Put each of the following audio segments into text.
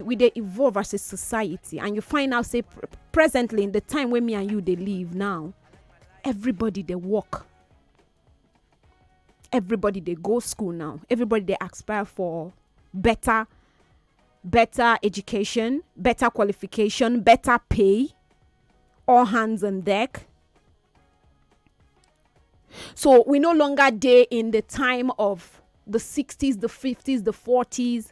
we dey evolve as a society and you find out say pr- presently in the time wey me and you dey live now everybody dey work everybody dey go school now everybody dey aspire for better better education better qualification better pay all hands on deck so we no longer dey in the time of the 60s the 50s the 40s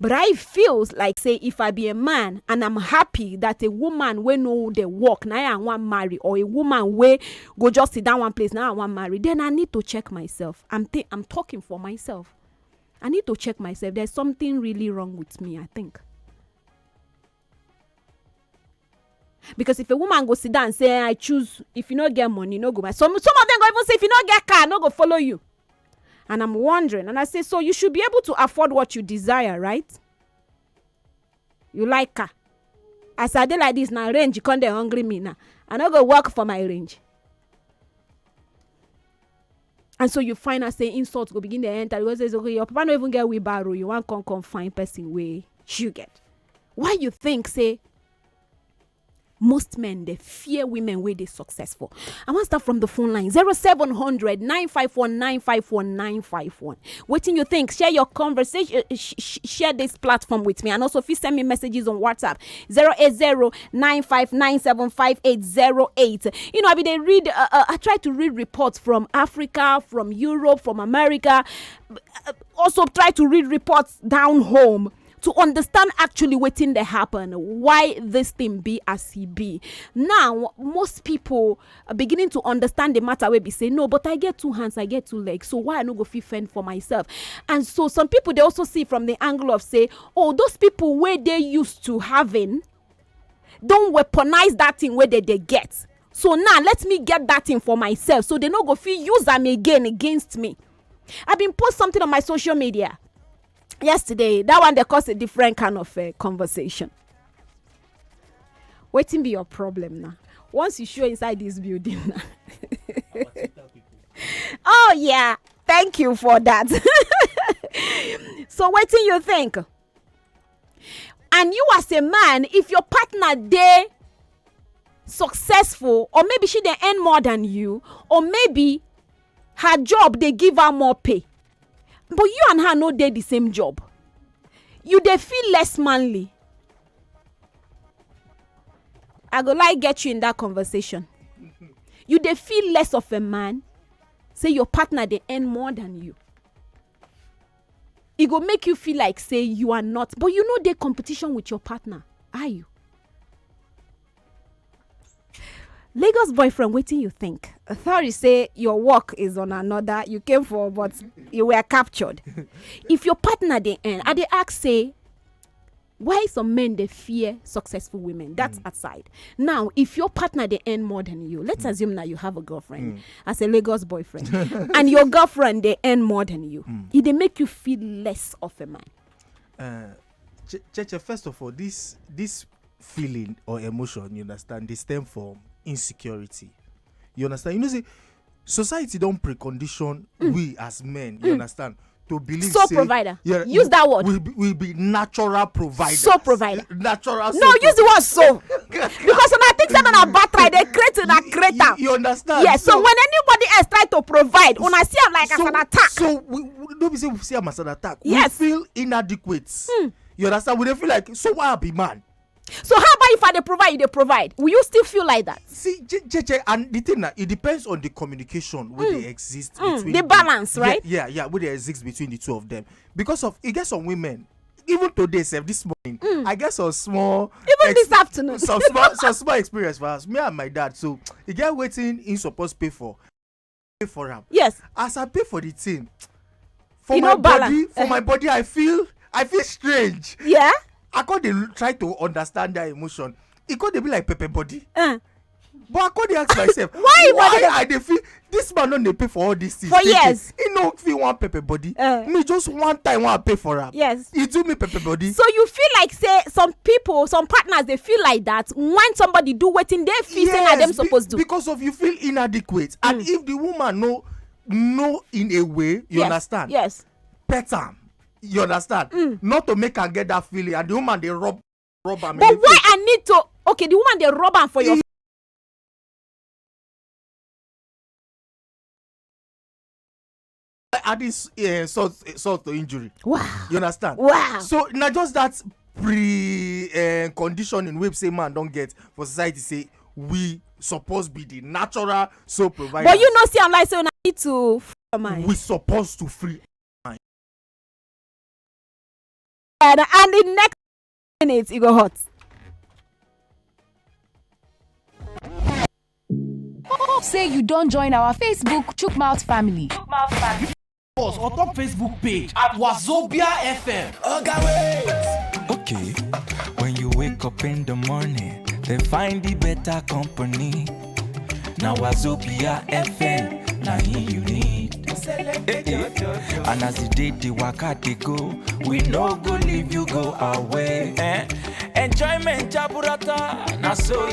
But I feels like say if I be a man and I'm happy that a woman wey know the work na I wan marry or a woman wey go just sit down one place na I wan marry, then I need to check myself. I'm think I'm talking for myself. I need to check myself. There's something really wrong with me, I think. because if a woman go sit down say i choose if you no get money no go buy some some of them go even say if you no get car no go follow you and i'm wondering and i say so you should be able to afford what you desire right you like car as i dey like this na range you come dey hungry me now i no go work for my range and so you find out say insult go begin dey enter you go say okay your papa no even get wheelbarrow you wan come come find person wey you get why you think say most men dey fear women wey dey successful i wan start from the phone line 0700 954 954 951 wetin you think share your conversation eh, eh, share this platform with me and also if you send me messages on whatsapp 080 nine five nine seven five eight zero eight. You know, I mean, they read. Uh, uh, I try to read reports from Africa, from Europe, from America. Uh, also, try to read reports down home to understand actually wetin dey happen why this thing be as e be now most people are beginning to understand the matter wey be say no but i get two hands i get two legs so why i no go fit fend for myself and so some people dey also see from the angle of say oh those people wey dey used to having don weaponize that thing wey dem dey get so now let me get that thing for myself so they no go fit use am again against me i bin post something on my social media yesterday that one dey cause a different kind of uh, conversation wetin be your problem now once you show inside this building now oh yeah thank you for that so wetin you think and you as a man if your partner dey successful or maybe she dey earn more than you or maybe her job dey give her more pay but you and her no dey the same job you dey feel less manly i go like get you in that conversation you dey feel less of a man say your partner dey earn more than you e go make you feel like say you are not but you no dey competition with your partner are you lagos boyfriend wetin you think sorry say your work is on another you came for but you were captured if your partner dey earn i dey ask say why some men dey fear successful women that mm. aside now if your partner dey earn more than you let's mm. assume now you have a girlfriend mm. as a lagos boyfriend and your girlfriend dey earn more than you mm. e dey make you feel less of a man. Uh, Cheche, first of all this this feeling or emotion you understand dey stem from insecurity you understand you know say society don precondition mm. we as men you mm. understand to believe so say, provider yeah, use that word we be, we be natural provider so provider natural so no use the word so because when i think say na battery dey create una create am you understand yes so, so when anybody else try to provide una see am like so, as an attack so we, we no be say we see am as an attack yes. we feel inadequate mm. you understand we dey feel like so why i be man So how about if I dey provide, you dey provide? Will you still feel like that? See, JJ, and the thing that it depends on the communication where mm. they exist mm. between the balance, the, right? Yeah, yeah, yeah, where they exist between the two of them. Because of it gets some women even today sef this morning mm. i get some small even this afternoon some small some small experience for us me and my dad so e get wetin he suppose pay for pay for am yes as i pay for the thing for e my body for my eh. body i feel i feel strange yeah i come dey try to understand that emotion e come dey be like pepper body eh. but i come dey ask myself why why i dey feel this man no dey pay for all these things for years he no fit wan pepper body eh. me just one time wan pay for am yes e do me pepper body. so you feel like say some people some partners dey feel like that when somebody do wetin dey feel say na dem suppose do. because of you feel inadequate and mm. if the woman no know in a way you understand. yes pet am you understand. Mm. not to make am get that feeling and the woman dey rub rub am. but why i need to okay the woman dey rub am for your. adding uh, salt, uh, salt to injury. Wow. You understand? Wow. So now just that pre uh, conditioning wey say man don get for society say we suppose be the natural soul provider. but you no see am like say una need to free your mind. we suppose to free our mind. and and the next minutes e go hot. hope say you don join our facebook chookmouth family. chookmouth family. us on top facebook page at wazobia fm. oga okay, wait. okay when you wake up in the morning dey find the better company. Now Wazobia FM, now him you need. Eh, eh. And as the day the waka they go, we no go leave you go away. Eh? Enjoyment jaburata, now so.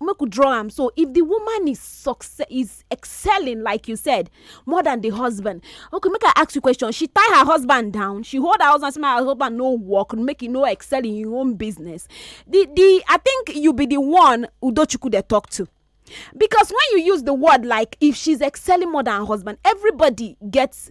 make we draw am so if the woman is success is excelling like you said more than the husband okay make i ask you question she tie her husband down she hold her husband say my husband no work make e no excel in im own business the the i think you be the one udochukwu dey talk to because when you use the word like if she's excelling more than her husband everybody gets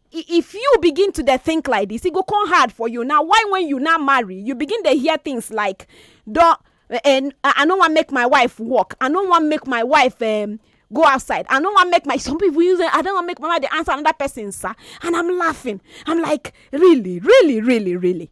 if you begin to dey think like this, it go come hard for you. Now, why when you now marry, you begin to hear things like, "Don't, eh, eh, I don't want make my wife work. I don't want make my wife um, go outside. I don't want make my some people use it. I don't want make my wife answer another person, sir." And I'm laughing. I'm like, really, really, really, really.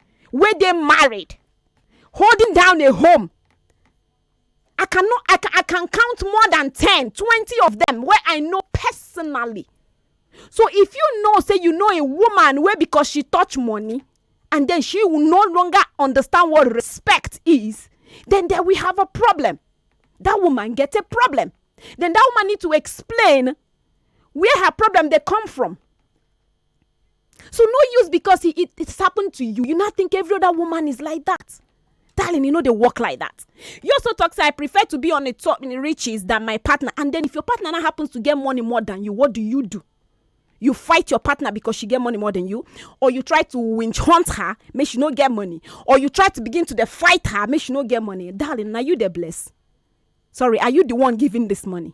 wey dey married holding down a home i can no i can i can count more than ten twenty of them wey i know personally so if you know say you know a woman wey because she touch money and then she will no longer understand what respect is then there we have a problem that woman get a problem then that woman need to explain where her problem dey come from So no use because it, it, it's happened to you. You not think every other woman is like that. Darling, you know they work like that. You also talk say I prefer to be on the top in the riches than my partner. And then if your partner now happens to get money more than you, what do you do? you fight your partner because she get money more than you or you try to winch hunt her make she no get money or you try to begin to dey fight her make she no get money darling na you dey bless sorry are you the one giving this money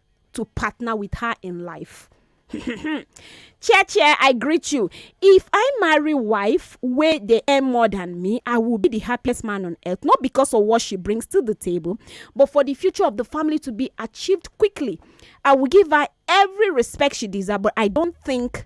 to partner with her in life. chair chair i greet you if i marry wife wey dey earn more than me i will be the happiest man on earth not because of what she brings to the table but for the future of the family to be achieved quickly i will give her every respect she deserves but i don't think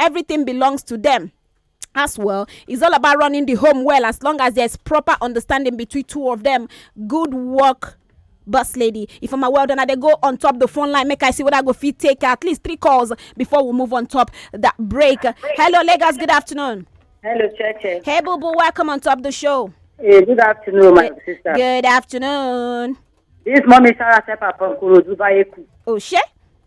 everything belongs to them as well it's all about running the home well as long as there's proper understanding between two of them good work boss lady if i'm a well done i go on top the phone line make i see what i go fit take at least three calls before we move on top that break hello lagos good afternoon hello churches hey boo boo welcome on top the show hey, good afternoon my good, sister good afternoon this mommy sarah sepa from kurodu bayeku oh shit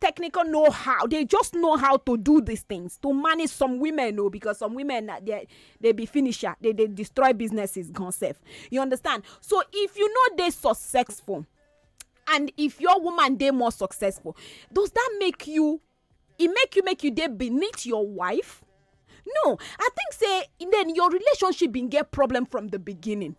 technical know how they just know how to do these things to manage some women oh because some women na they they be finisher they they destroy businesses gone self you understand so if you know they successful and if your woman they more successful does that make you it make you make you they beneath your wife no i think say then your relationship been get problem from the beginning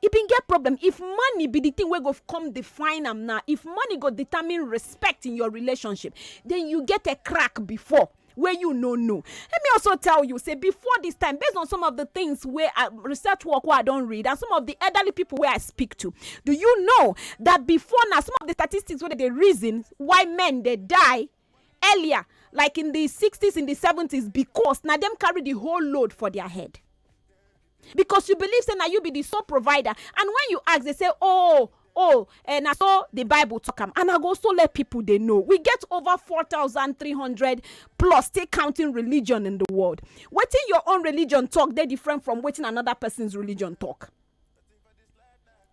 e bin get problem if money be the thing wey go come define am now if money go determine respect in your relationship then you get a crack before wey you no know let me also tell you say before this time based on some of the things wey I, uh, research work wey i don read and some of the elderly people wey i speak to do you know that before now some of the statistics wey dey reason why men dey die earlier like in the 60s in the 70s because now them carry the whole load for their head because you believe say na you be the sole provider and when you ask they say oh oh eh, na so the bible talk am and i go also let people dey know we get over 4300 plus still counting religion in the world wetin your own religion talk dey different from wetin another person's religion talk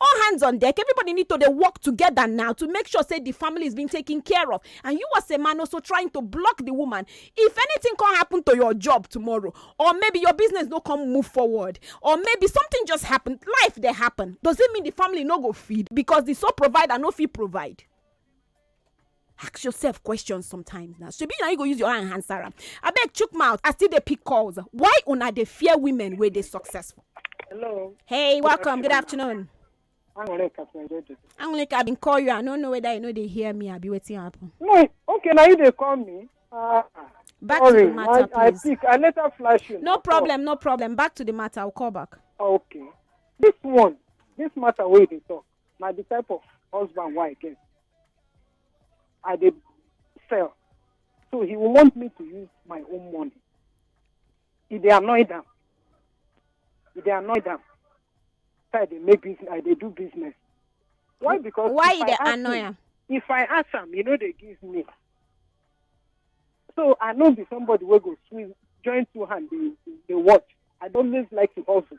All hands on deck, everybody need to dey work together now to make sure say the family is being taken care of and you as a man also trying to block the woman if anything come happen to your job tomorrow or maybe your business no come move forward or maybe something just happen life dey happen does it mean the family no go feed because the sole provider no fit provide ask yourself questions sometimes na shebi na you go use your hand answer am abeg chook mouth i still dey pick calls why una dey fear women wey dey successful Hello. hey welcome good afternoon Anwere Captain Jojo. anwulike i bin call you i no know whether you no dey hear me abi wetin happen No, okay, now you dey call me. Ah, back sorry, to the matter I, I please pick. I later flash you. no now. problem no problem back to the matter i will call back Oh, okay. This one, this matter wey you dey talk, na the type of husband wey I get. I dey sell. So he will want me to use my own money. He dey annoy them. He dey annoy them. So I dey make business, I dey do business. Why? Because why if you I dey ask annoy him- am If I ask am, you know they give me. So I know be somebody wey go swim, join two hand, they, they watch. I don't always like to hustle.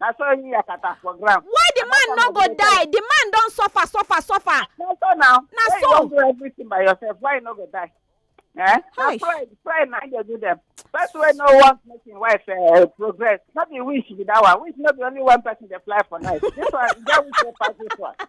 na so him yakata for ground. why the man no go die the man don suffer suffer suffer. na so na na so. why you wan do everything by yourself why you no go die. Eh? na pray pray na dey do them. first wey no wan make him wife uh, progress no be wish be that one wish no be only one person dey fly for night this one get wish wey pass this one.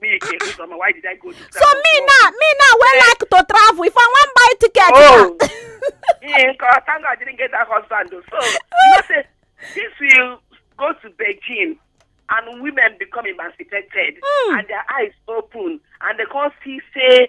me again this summer why did i go to so me now me now wey like to travel if i wan buy ticket oh me nko thank god i didn't get that husband o so you know say this will go to beijing and women become emancipated mm. and their eyes open and they come see say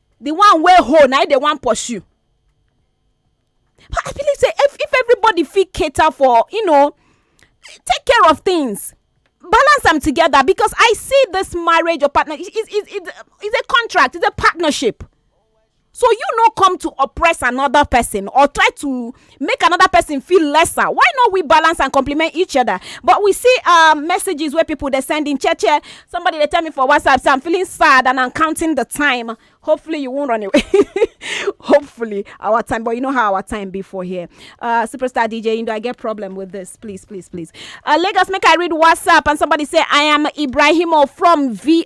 the one wey hold na him dey wan pursue but i believe say if if everybody fit cater for you know take care of things balance am together because i see this marriage or partner is is is is a contract is a partnership so you no come to oppress another person or try to make another person feel lesser why not we balance and compliment each other but we see um, messages where people they're sending che che somebody they tell me for whatsapp so i'm feeling sad and i'm counting the time hopefully you won't run away hopefully our time but you know how our time before here uh, superstar dj indo i get problem with this please please please uh, lagos make i read whatsapp and somebody say i am ibrahimo from vi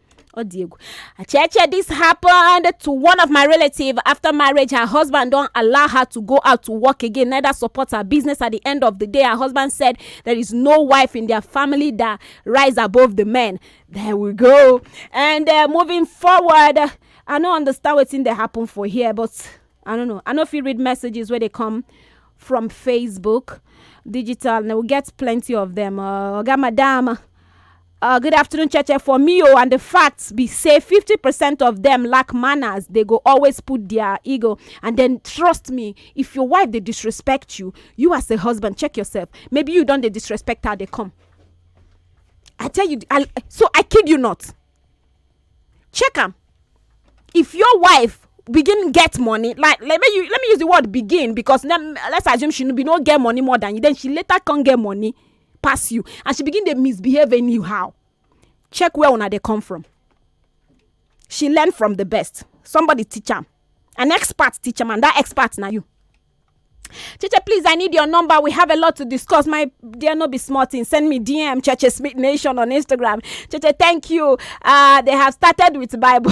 ọ dị egwu cheche this happened to one of my relative after marriage her husband don allow her to go out to work again neither support her business at the end of the day her husband said there is no wife in their family that rise above the men there we go and uh, moving forward i no understand wetin dey happen for here but i don't know i no fit read messages wey dey come from facebook digital na we get plenty of them uh, oga madam Uh, good afternoon, Cheche. For me, oh, and the facts be say 50% of them lack manners. They go always put their ego. And then, trust me, if your wife they disrespect you, you as a husband, check yourself. Maybe you don't they disrespect her, they come. I tell you, I, so I kid you not. Check them. If your wife begin get money like let me let me use the word begin because let, let's assume she be no get money more than you then she later can't get money pass you and she begin dey misbehave anyhow check where una dey come from she learn from the best somebody teach am an expert teach am and that expert na you Cheche, please, I need your number. We have a lot to discuss. My dear, no be small thing. Send me DM, Cheche Smith Nation on Instagram. Cheche, thank you. Uh, they have started with Bible.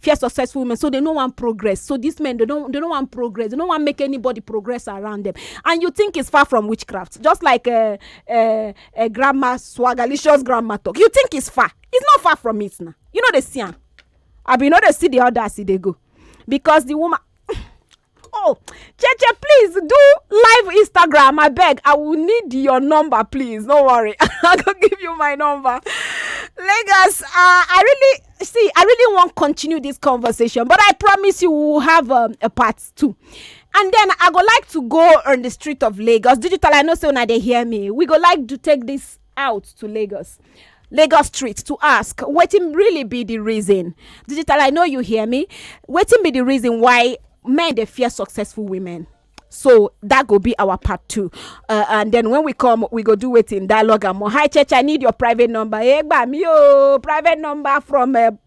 fear successful women so they no wan progress so these men they don't they no wan progress they no wan make anybody progress around them and you think it's far from witchcraft just like uh, uh, uh, grandma swagalicious grandma talk you think it's far it's not far from it now you know they see am abi you know they see the others e dey go because the woman oh cheche please do live instagram I beg. i will need your number please no worry i go give you my number lagos uh, i really see i really wan continue this conversation but i promise you we will have um, a part two and then i go like to go on the street of lagos digital i know so now they hear me we go like to take this out to Lagos Lagos street to ask wetin really be the reason digital I know you hear me wetin be the reason why men dey fear successful women so that go be our part two uh, and then when we come we go do wetin dialogue and more hi church I need your private number egba mi o private number from uh,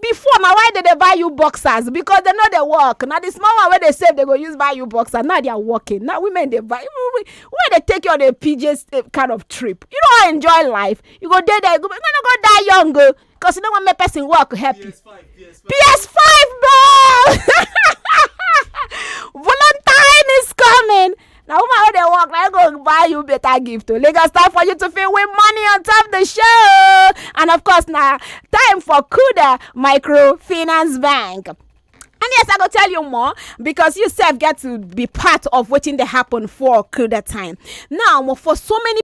before na why dem dey buy you boxers because dem no dey work na the small one wey dey save dem go use buy you boxer now they are working now women dey buy women dey take you on a pj eh, kind of trip you no wan enjoy life you go dey there you go no no go die young o oh, because you no wan make person work help you ps five bro valentine is coming. na woman wey dey work na im go buy you better gift o lagos time for you to fit win money on top the show and of course na time for kuda microfinance bank. And yes, I go tell you more because you self get to be part of wetin dey happen for Kuda time. Now, for so many